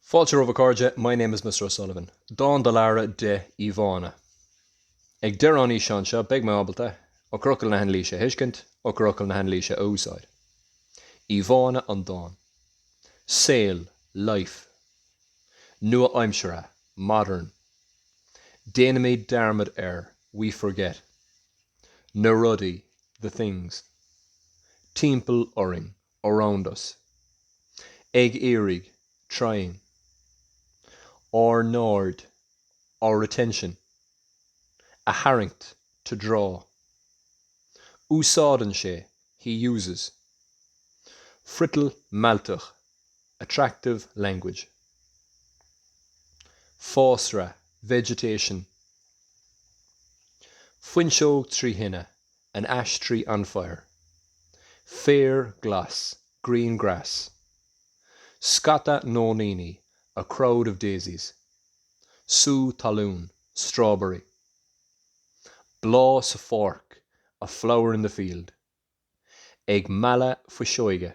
Fáilte romhaibh a chairde, my name is Mr O'Sullivan. Dán do Lara, dé, íomhánna. Ag deireadh an fhíseáin seo beidh mé ábalta, eochairfhocail na hanailíse a thuiscint, eochairfhocail na hanailíse a úsáid. íomhánna an dáin. saol, life. nua-aimseartha, modern. déanaimid dearmad ar, we forget. na rudaí, the things. timpeall orainn, around us. Ag iarraidh, trying. Ár n-aird, our attention. A tharraingt, to draw. Úsáideann sé, he uses. Friotal mealltach, attractive language. Fásra, vegetation. Fuinseog trí thine, an ash tree on fire, féar glas green grass scata nóiníní a crowd of daisies sú talún strawberry bláth sa pháirc a flower in the field ag mealladh fuiseoige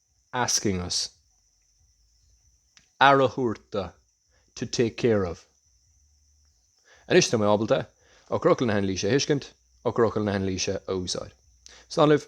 asking us. aire a thabhairt do, to take care of. Anois tá mé ábalta eochairfhocail na hanailíse a thuiscint, eochairfhocail na hanailíse a úsáid. Slán libh.